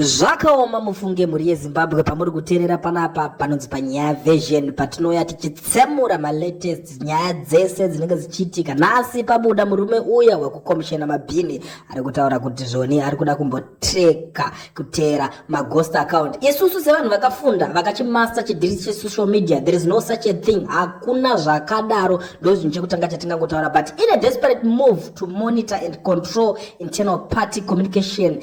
Zvakaoma mufunge mhuri yeZimbabwe pamuri kuteerera panapa panonzi panyaya version patinouya tichitsemura malatest nyaya dzese dzinenge dzichiitika nhasi pabuda murume uya wekukomishena mabhini ari kutaura kuti zvoni ari kuda kumbotreka kuteera maghost account isusu sevanhu vakafunda vakachimaster chidhiri chesocial media there is no such a thing hakuna zvakadaro ndozvinhu chekutanga chatingangotaura but in a desperate move to monitor and control internal party communication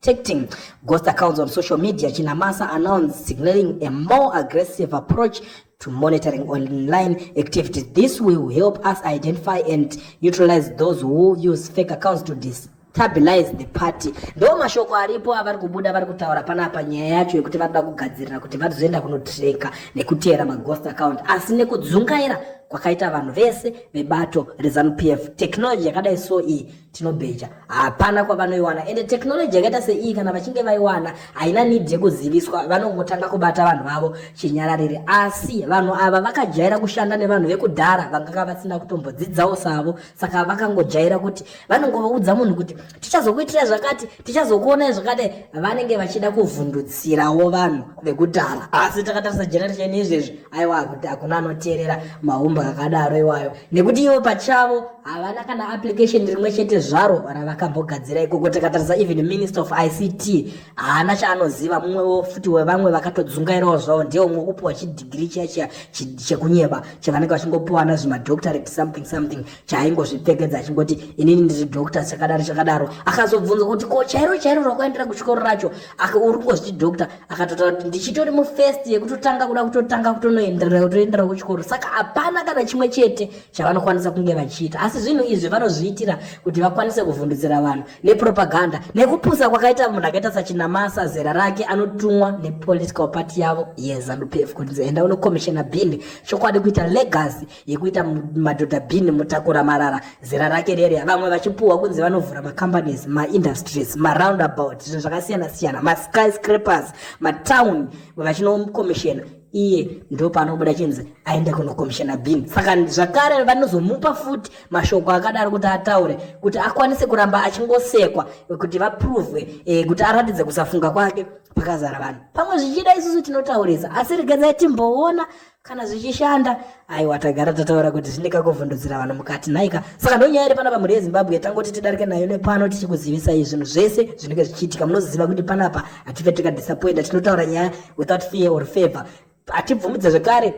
protecting ghost accounts on social media, Chinamasa announced signaling a more aggressive approach to monitoring online activities. This will help us identify and neutralize those who use fake accounts to destabilize the party. Ndo mashoko aripo avari kubuda vari kutaura panapa nyaya yacho yekuti vanoda kugadzirira kuti vazoenda kunotreka nekuteera maghost account asi nekudzungaira kwakaita vanhu vese vebato reZanu PF. Technology yakadai so iyi tinobheja hapana kwavanoiwana ende technology yakaita seiyi kana vachinge vaiwana haina need yekuziviswa vanongotanga kubata vanhu vavo chinyararire asi vanhu ava vakajaira kushanda nevanhu vekudhara vanganga vasina kutombodzidzawo savo saka vakangojaira kuti vanongovaudza munhu kuti tichazokuitira zvakati tichazokuonai zvakadai vanenge vachida kuvhundutsirawo vanhu vekudhara asi takatarisa generation izvezvi aiwa kuti hakuna anoteerera maumba akadaro iwayo nekuti ivo pachavo havana kana application rimwe chete zvaro ravakambogadzira ikoko takatarisa even minister of ict haana chaanoziva mumwewo futi wevamwe vakatodzungairawo zvavo ndiye umwe kupiwa chidigiri chiya chiya chekunyeba chavanenge vachingopiwana zvimadoctorate something something chaaingozvipfekedza achingoti inini ndiri doctor chakadaro chakadaro akazobvunza kuti ko chairo chairo rakaendera kuchikoro racho uri kungozviti doctor akatotaura kuti ndichitori mufirst yekutotanga kuda kutotanga kutonoenderera kutoenderera kuchikoro saka hapana kana chimwe chete chavanokwanisa kunge vachiita asi zvinhu izvi vanozviitira kuti vakwanise kuvhundutsira vanhu nepropaganda nekupusa kwakaita munhu akaita sachinamasa zera rake anotumwa nepolitical party yavo yezanupf kuti enda unokomishena bhini chokwadi kuita legacy yekuita madhodha bin mutakura marara zera rake rere vamwe vachipuhwa kunzi vanovhura macompanies maindustries maroundabout zvinhu zvakasiyana siyana maskyscrapers matown vachinokomishena iye ndo paanobuda chinzi aende kunokomishana bin saka zvakare vanozomupa futi mashoko akadaro kuti ataure kuti akwanise kuramba achingosekwa kuti vaprovwe e, kuti aratidze kusafunga kwake pakazara vanhu pamwe zvichida isusu tinotaurisa asi regedzai timboona kana zvichishanda aiwa tagara tataura kuti zvine kakovhundudzira vanhu mukati nhaika saka ndonyaya iri panapa mhuri yezimbabwe tangoti tidarike nayo nepano tichikuzivisai zvinhu zvese zvinenge zvichiitika munoziva kuti panapa hatife tikadisappointa tinotaura nyaya without fear or favor hatibvumidze zvekare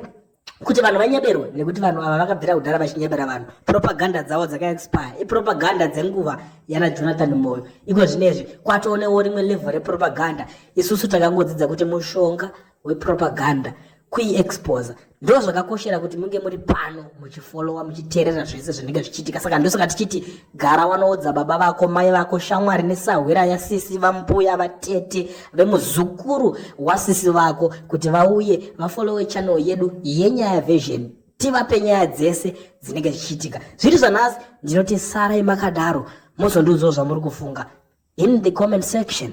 kuti vanhu vanyeberwe nekuti vanhu ava vakabvira kudhara vachinyebera vanhu propaganda dzavo dzakaexpire ipropaganda dzenguva yana jonathan moyo iko zvinezvi kwatoonewo rimwe level repropaganda isusu takangodzidza kuti mushonga wepropaganda kuiexposa ndo zvakakoshera kuti munge muri pano muchifolowa muchiteerera zvese zvinenge zvichiitika saka ndosaka tichiti gara wanoudza baba vako mai vako shamwari nesahwira yasisi vambuya vatete vemuzukuru wasisi vako kuti vauye vafolowe channel yedu yenyaya vision tivape nyaya dzese dzinenge zvichiitika zviri zvanhasi ndinoti sarai makadaro mozondiudzawo zvamuri kufunga in the comment section